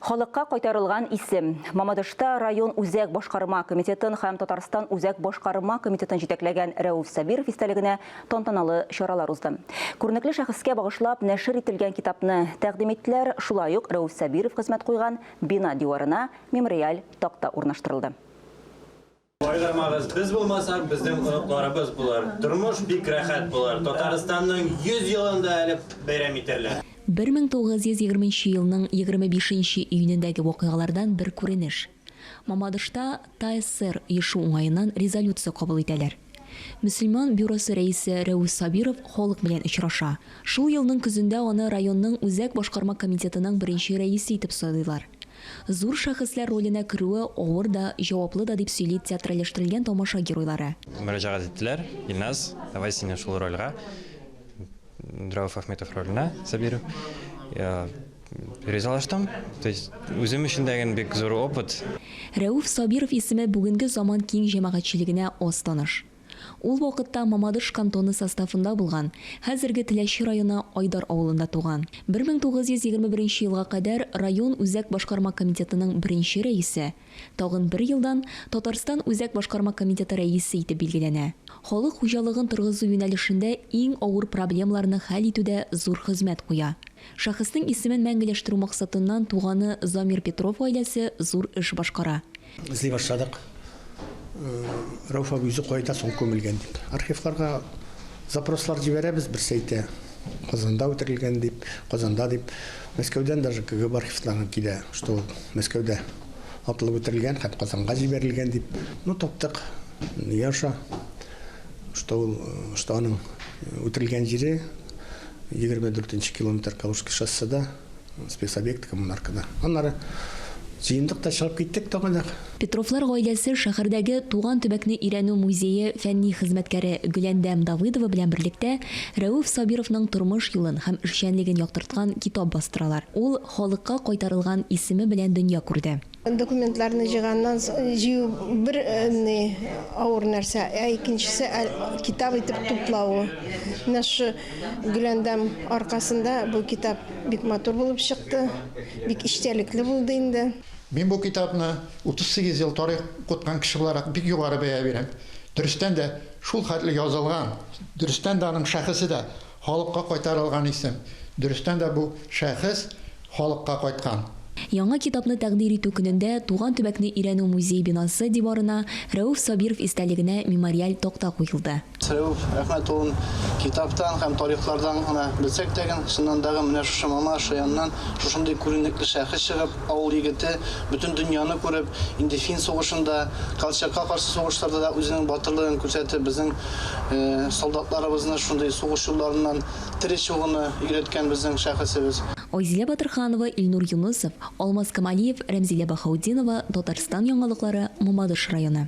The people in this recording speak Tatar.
Халыкка кайтарылган исем. Мамадышта район үзәк башкарма комитетын һәм Татарстан үзәк башкарма комитетын җитәкләгән Рәүф Сабиров истәлегенә тантаналы чаралар узды. Күренекле шәхескә багышлап нәшер ителгән китапны тәкъдим иттеләр, шулай ук Рәүф Сабиров хезмәт куйган бина диварына мемориаль такта урнаштырылды. Кайгырмагыз, без булмасак, безнең оныкларыбыз булыр. Тормыш бик рәхәт булыр. Татарстанның 100 елын да әле бәйрәм итәрләр. 1920 нче елның 25 нче июнендәге вакыйгалардан бер күренеш. Мамадышта ТАССР оешу уңаеннан резолюция кабул итәләр. Мөселман бюросы рәисе Рәүс Сабиров халык белән очраша. Шул елның көзендә аны районның Үзәк башкарма комитетының беренче рәисе итеп сайлыйлар. Зур шәхесләр роленә керүе авыр да, җаваплы да, дип сөйли театральләштерелгән тамаша геройлары. Мөрәҗәгать иттеләр, Илназ, давай сине шул рольгә, Рәүф Әхметов роленә, Сабиров. Ризалаштым, то есть үзем өчен дә ген бик зур опыт. Рәүф Сабиров исеме бүгенге заман киң җәмәгатьчелегенә аз таныш. Ул вакытта Мамадыш кантоны составында булган, хәзерге Теләче районы Айдар авылында туган. 1921 елга кадәр район үзәк башкарма комитетының беренче рәисе, тагын бер елдан Татарстан Үзәк башкарма комитеты рәисе итеп билгеләнә. Халык хуҗалыгын торгызу юнәлешендә иң авыр проблемаларны хәл итүдә зур хезмәт куя. Шәхеснең исемен мәңгеләштерү максатыннан туганы Замир Петров гаиләсе зур эш башкара. Эзли башладык. Рәүф абый үзе кайда соң күмелгән дип. Архивларга запрослар җибәрәбез, берсе әйтә, Казанда үтерелгән дип, Казанда дип. Мәскәүдән даже КГБ архивларыннан килә, что ул Мәскәүдә атылып үтерелгән һәм Казанга җибәрелгән дип. Ну, таптык. Яша, что ул, что аның үтерелгән җире 24 нче километр Калужский шосседа, Спецобъект коммунаркада. Аннары җыендык та чыгып киттек тагын. Петровлар гаиләсе шәһәрдәге Туган төбәкне өйрәнү музее фәнни хезмәткәре Гөләндәм Давыдова белән берлектә Рәүф Сабировның тормыш юлын һәм эшчәнлеген яктырткан китап бастыралар. Ул халыкка кайтарылган исеме белән дөнья күрде. Документларны җыйганнан җыю бер ни авыр нәрсә, ә икенчесе китап итеп туплавы. Менә шушы гөләндәм аркасында бу китап бик матур булып чыкты, бик эчтәлекле булды инде. Мин бу китапны 38 ел тарих укыткан кеше буларак бик югары бәя бирәм. Дөрестән дә, шул хәтле язылган, дөрестән дә аның шәхесе дә Халыкка кайтарылган исем. Дөрестән дә бу шәхес халыкка кайткан. Яңа китапны тәкъдир итү көнендә Туган төбәкне өйрәнү музей бинасы диварына Рәүф Сабиров истәлегенә мемориаль такта куелды. Рәүф Әхмәт улын китаптан һәм тарихлардан гына белсәк тә, чыннан да, менә шушы Мама Шаяннан шушындый күренекле шәхес чыгып, Авыл егете, бөтен дөньяны күреп, инде фин сугышында, Колчакка каршы сугышларда да үзенең батырлыгын күрсәтеп, безнең солдатларыбызны шундый сугыш юлларыннан тере чыгуны өйрәткән безнең шәхесебез. Айзилә Батырханова, Илнур Юнысов, Алмаз Камалиев, Рәмзилә Баһаутдинова, Татарстан Яңалыклары, Мамадыш районы.